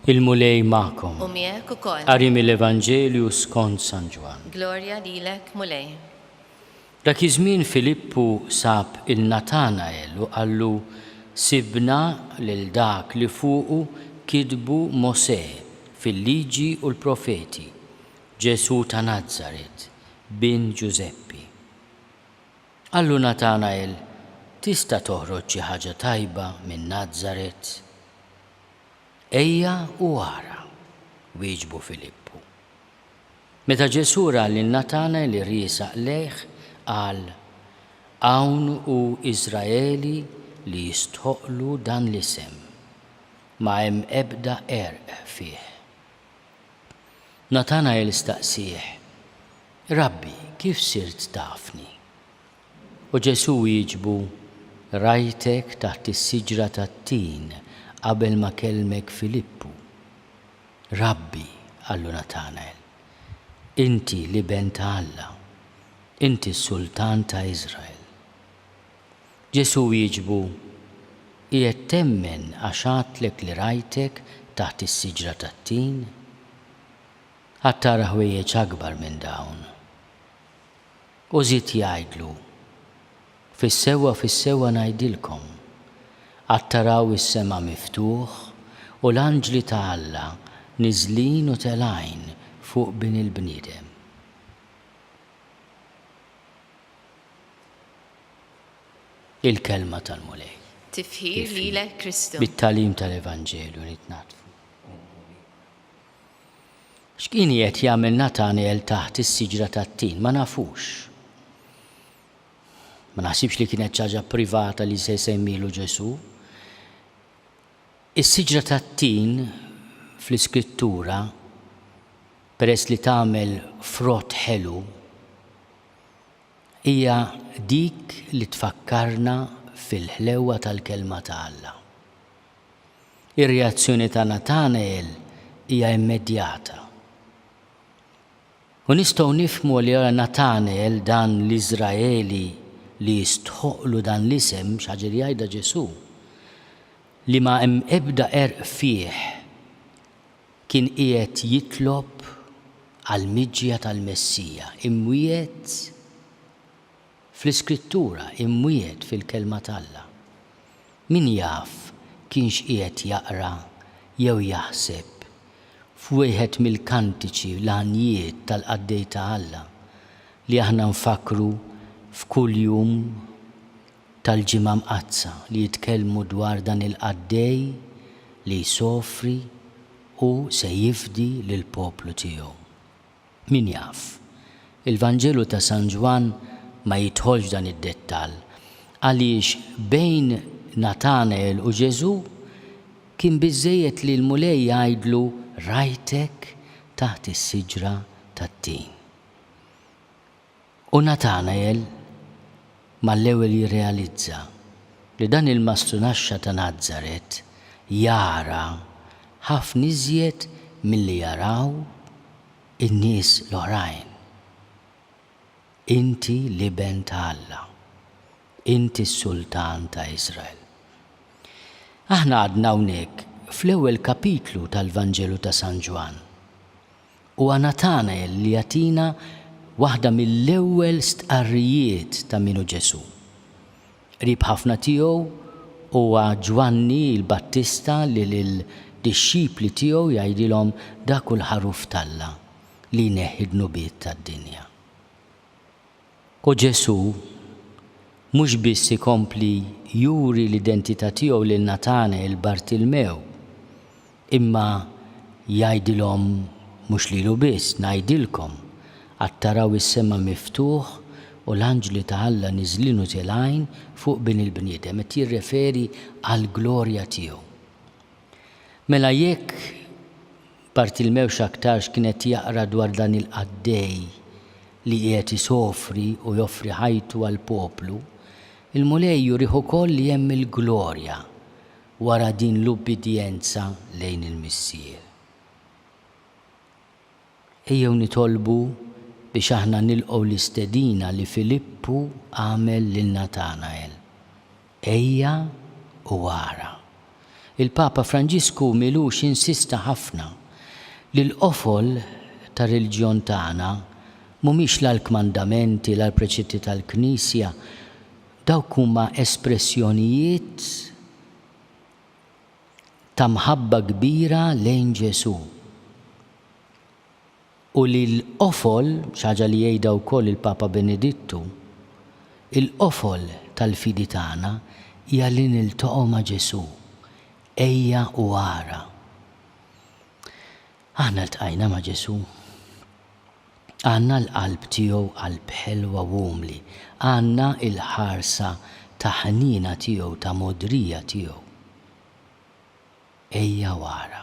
Il-Mulej magħkom. U miegħek ukoll. Qari mill-Evanġelju skont San Ġwann. Glorja lilek, Mulej. Dak iż-żmien Filippu sab il Natanael u qallu, Sibna lil dak li fuqu kitbu Mosè fil-Liġi u l-Profeti, Ġesù ta' Nazaret, bin Ġużeppi. Qallu Natanael, Tista' toħroġ xi ħaġa tajba minn Nazaret? Ejja u ara, wieġbu Filippu. Meta Ġesù ra lil Natanael iriesaq lejh, qal, Hawn hu Iżraeli li jistħoqqlu dan l-isem. Ma hemm ebda għerq fih. Natanajl staqsieh, Rabbi, kif sirt tafni? U Ġesù wieġbu, Rajtek taħt is-siġra tat-tin qabel ma kellmek Filippu. Rabbi, qallu Natanajl, inti l-Iben ta' Alla, inti s-Sultan ta' Iżrael. Ġesù wieġbu, Qiegħed temmen għax għadtlek li rajtek taħt is-siġra tat-tin? Għad tara ħwejjeġ akbar minn dawn. U żied jgħidlu, Fis-sewwa, fis-sewwa ngħidilkom, Għad taraw is-sema miftuħ u l-anġli ta' Alla niżlin u telgħin fuq Bin il-bniedem. Il-Kelma tal-Mulej. Tifħir lilek Kristu. Bit-tagħlim tal-Evanġelju nitnaddfu u nħuli. X'kien qiegħed jagħmel Natanel taħt is-siġra tat-tin? Ma nafux. Ma naħsibx li kienet ċaġa privata li se jsemmilu Ġesu. Is-siġra tat-tin fl-Iskrittura peress li tagħmel frott ħelu hija dik li tfakkarna fil-ħlewwa tal-Kelma ta' Alla. Ir-reazzjoni ta' Nathanael hija immedjata. U nistgħu nifhmu li ara Nathanael dan l-Iżraeli li jistħoqqlu dan l-isem, xi ħaġa li jgħidha Ġesù, li ma hemm ebda għerq fih Kien qiegħed jitlob għall-miġja tal-Messija, imwiegħed fl-Iskrittura, imwiegħed fil-Kelma t'Alla. Min jaf kienx qiegħed jaqra jew jaħseb f'wieħed mill-kantiċi l-għanjiet tal-qaddej ta' Alla li aħna nfakkru f'kuljum? tal-Ġimgħa Mqaddsa li jitkellmu dwar dan il-qaddej li jsofri u se jifdi lill-poplu tiegħu. Min jaf? Il-Vanġelu ta' San Ġwann ma jidħolx f'dan id-dettall, għaliex bejn Natanael u Ġesù kien biżżejjed li l-Mulej jgħidlu rajtek taħt is-siġra tat-tin. U Natanael mal-ewwel jirrealizza li dan il-mastrunaxxa ta' Nazaret jara ħafna iżjed milli jaraw in-nies l-oħrajn. Inti l-Iben ta' Alla. Inti s-Sultan ta' Iżrael. Aħna għadna hawnhekk fl-ewwel kapitlu tal-Vanġelu ta' San Ġwann. Huwa Natanael li jagħtina waħda mill-ewwel stqarrijiet ta' min hu Ġesù. Qrib ħafna tiegħu huwa Ġwanni l-Battista li lid-dixxipli tiegħu jgħidilhom dak hu l-Ħaruf t'Alla li jneħħi d-dnubiet tad-dinja. U Ġesù mhux biss ikompli juri l-identità tiegħu lil Natanel Bartilmew, imma jgħidilhom mhux lilu biss, Ngħidilkom, għad taraw is-sema miftuħ u l-anġli ta' Alla niżlin u tilgħin fuq Bin il-bniedem, qed jirreferi għall-glorja tiegħu. Mela jekk. Bartilmew x'aktarx kien qed jaqra dwar dan il-qaddej li qiegħed isofri u joffri ħajtu għall-poplu, il-Mulej jurih ukoll li hemm il-glorja wara din l-ubbidjenza lejn il-Missier. Ejjew nitolbu biex aħna nilqgħu l-istedina li Filippu għamel lil Natanael. Ejja u ara. Il-Papa Franġisku m'ilux insista ħafna li l-qofol tar-reliġjon tagħna mhumiex la l-kmandamenti la l-preċetti tal-Knisja, dawk huma espressjonijiet ta' mħabba kbira lejn Ġesù. U li l-qofol, xi ħaġa li jgħidha wkoll il-Papa Benedittu, il-qofol tal-fidi tagħna hija li niltaqgħu ma' Ġesù, ejja u ara. Aħna ltqajna ma' Ġesù? Għandna l-qalb tiegħu qalb ħelwa u umli, għandna l-ħarsa ta' ħniena tiegħu, ta' mogħdrija tiegħu? Ejja u ara.